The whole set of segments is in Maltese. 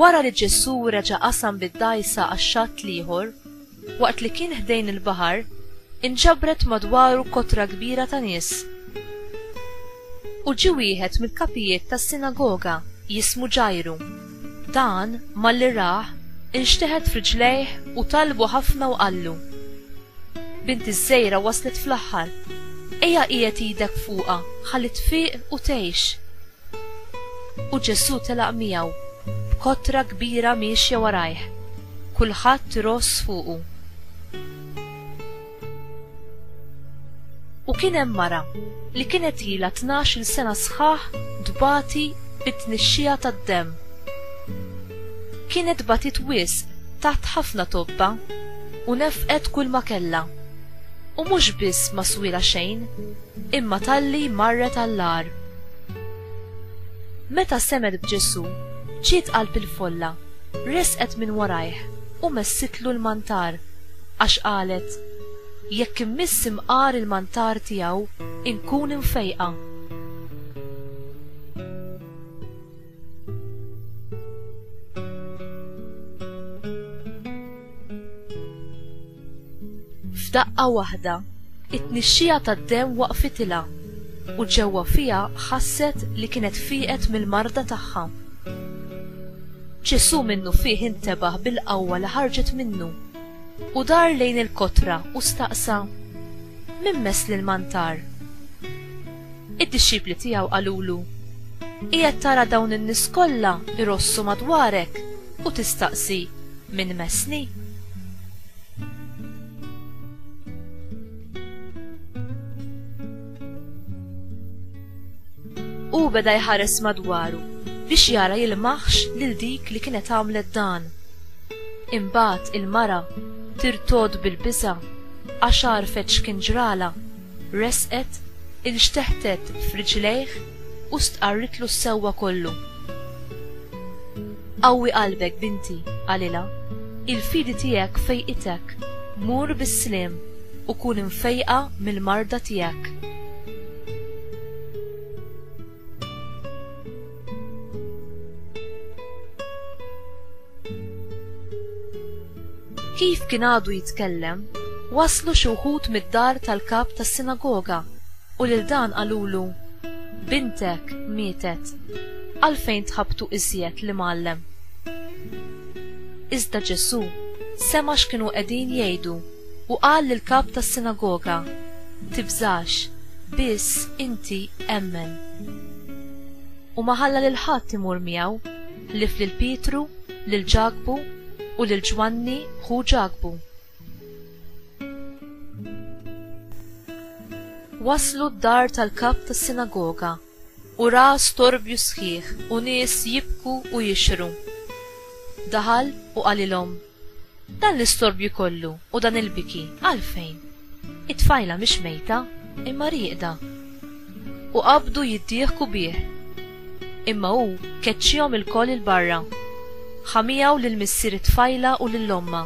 Wara li Ġesù reġa' qasam bid-dgħajsa għax-xatt l-ieħor, waqt li kien ħdejn il-baħar, inġabret madwaru kotra kbira ta' nies. U ġie wieħed mill-kapijiet tas-sinagoga jismu Ġajru. Dan, malli rah, inxteħet f'riġlejh u talbu ħafna u qallu, Binti ż-żgħira waslet fl-aħħar. Ejja qiegħed idek fuqha ħalli tfiq u tgħix. U Ġesù telaq miegħu, b'kotra kbira miexja warajh, kulħadd iross fuqu. U kien hemm mara, li kienet ilha tnax-il sena sħaħ tbati bit-tnixxija tad-demm. Kienet batiet wisq taħt ħafna tobba, u nefqet kulma kellha, u mhux biss ma swielha xejn, imma talli marret għall-agħar. Meta semgħet b'Ġesù, ġiet qalb il-folla, resqet minn warajh u messitlu l-mantar, għax qalet, Jekk immiss imqar il-mantar tiegħu, inkun imfejqa. F'daqqa waħda, it-tnixxija tad-demm waqfitilha u ġewwa fiha ħasset li kienet fieqet mill-marda tagħha. Ġesù minnufih intebaħ bil-qawwa li ħarġet minnu u dar lejn il-kotra u staqsa, Min mess lil Mantar? Id-dixxipli tiegħu qalulu, Qiegħed tara dawn in-nies kollha jrossu madwarek u tistaqsi, 'Min messni? Hu beda jħares madwaru biex jara jilmaħx lil dik li kienet għamlet dan. Imbagħad il-mara tirtod bil-biża' għax għarfet x'kien ġralha. Resqet, inxteħtet f'riġlejh u stqarritlu s-sewwa kollu. Qawwi qalbek, binti, qalilha, il-fidi tiegħek fejqitek, mur bis-sliem u kun imfejqa mill-marda tiegħek. Kif kien għadu jitkellem, waslu xi wħud mid-dar tal-kap tas-sinagoga u lil dan qalulu, Bintek mietet, għalfejn tħabbtu iżjed l-imgħallem? Iżda Ġesù sema' x'kienu qegħdin jgħidu u qal lill-kap tas-sinagoga, Tibżax, biss inti emmen. U ma ħalla lil ħadd imur miegħu, ħlief lil Pietru, lil Ġakbu, u lil Ġwanni ħu Ġakbu. Waslu d-dar tal-kap tas-sinagoga, u ra storbju sħiħ u nies jibku u jixhru. Daħal u qalilhom, Dan l-istorbju kollu u dan il-biki għalfejn? It-tfajla mhix mejta, imma rieqda. U qabdu jiddieħku bih. Imma hu keċċihom ilkoll 'il barra. Ħa miegħu lil missier it-tfajla u lil ommha,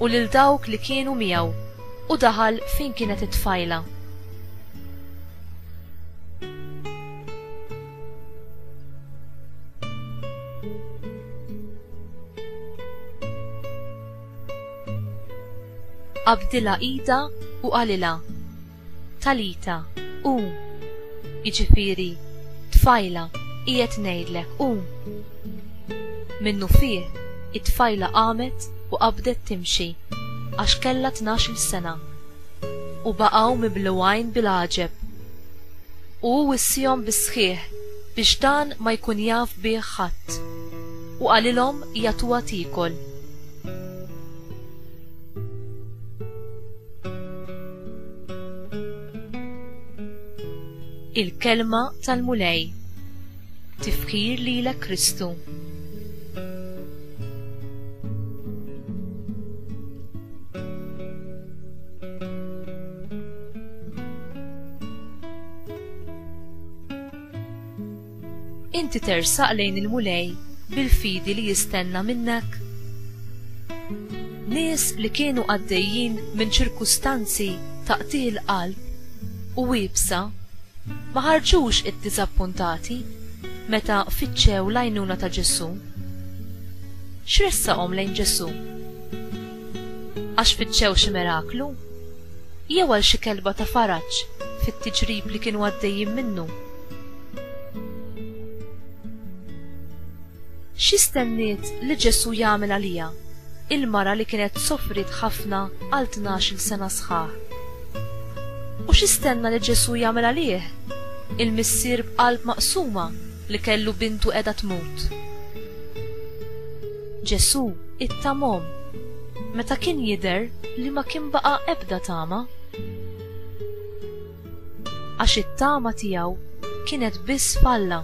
u lil dawk li kienu miegħu, u daħal fejn kienet it-tfajla. Qabdilha ida u qalilha, Talita, qum! jiġifieri, Tfajla, qiegħed ngħidlek, qum! Minnufih, it-tfajla qamet u qabdet timxi, għax kellha tnax-il sena. U baqgħu mibluwgħin bil-għaġeb. u hu wissiehom bis-sħiħ biex dan ma jkun jaf bih ħadd, u qalilhom jagħtuha tiekol. Il-Kelma tal-Mulej. Tifkir lilek Kristu. Inti tersaq lejn il-mulej bil-fidi li jistenna minnek? Nies li kienu għaddejjin minn ċirkustanzi taqtih il-qalb u wibsa Ma ħarġux iddiżappuntati meta fittxew l-għajnuna ta' Ġesù? X'ressaqhom lejn Ġesù? Għax fittxew xi miraklu? Jew għal xi kelba ta' faraġ fit-tiġrib li kienu għaddejjin minnu? Xi stenniet li Ġesù jagħmel għaliha, il-mara li kienet sofriet ħafna għal tnax-il sena sħaħ? U x'istenna li Ġesù jagħmel għalih? Il-missier b'qalb maqsuma li kellu bintu qiegħda tmut. Ġesù ittamhom meta kien jidher li ma kien baqa' ebda tama. Għax it-tama tiegħu kienet biss f'Alla.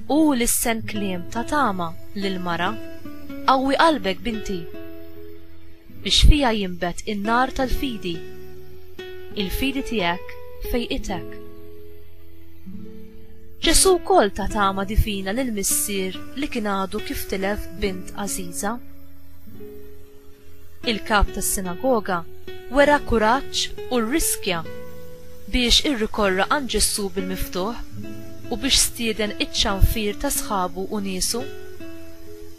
Hu l-issen kliem ta' tama lill-mara, Qawwi qalbek, binti! Biex fija jinbet in-nar tal-fidi. Il-fidi tiegħek fejqitek. Ġesù wkoll ta tama divina lil missier li kien għadu kif tilef bint għażiża. Il-kap tas-sinagoga wera kuraġġ u rriskja biex irrikorra għand Ġesù bil-miftuħ u biex stieden iċ-ċanfir ta' sħabu u niesu.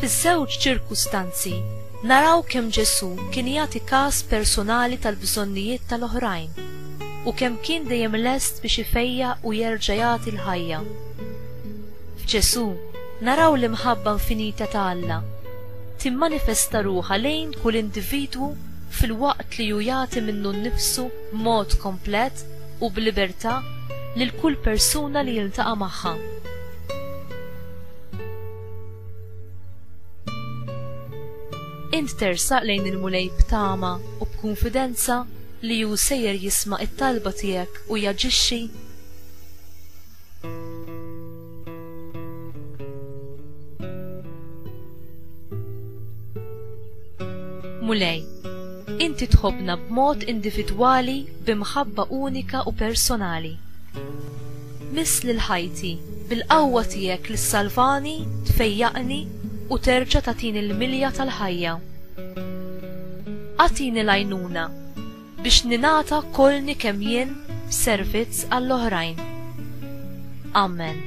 Fiż-żewġ ċirkustanzi, naraw kemm Ġesù kien jagħti kas persunali tal-bżonnijiet tal-oħrajn u kemm kien dejjem lest biex ifejjaq u jerġa' jagħti l-ħajja. F'Ġesù, naraw l-imħabba infinita ta' Alla timmanifesta ruħha lejn kull individwu filwaqt li hu jagħti minnu nnifsu b'mod komplet u b'libertà lil kull persuna li jiltaqa' magħha. Int tersaq lejn il-Mulej b'tama u b'kunfidenza li hu sejjer jisma' t-talba tiegħek u jaġixxi? Mulej, inti tħobbna b'mod individwali b'imħabba unika u personali. Miss lil ħajti, bil-qawwa tiegħek li ssalvani, tfejjaqni u terġa' tagħtini l-milja tal-ħajja. Agħtini l-għajnuna biex ningħata kolni kemm jien f'servizz għall-oħrajn. Amen.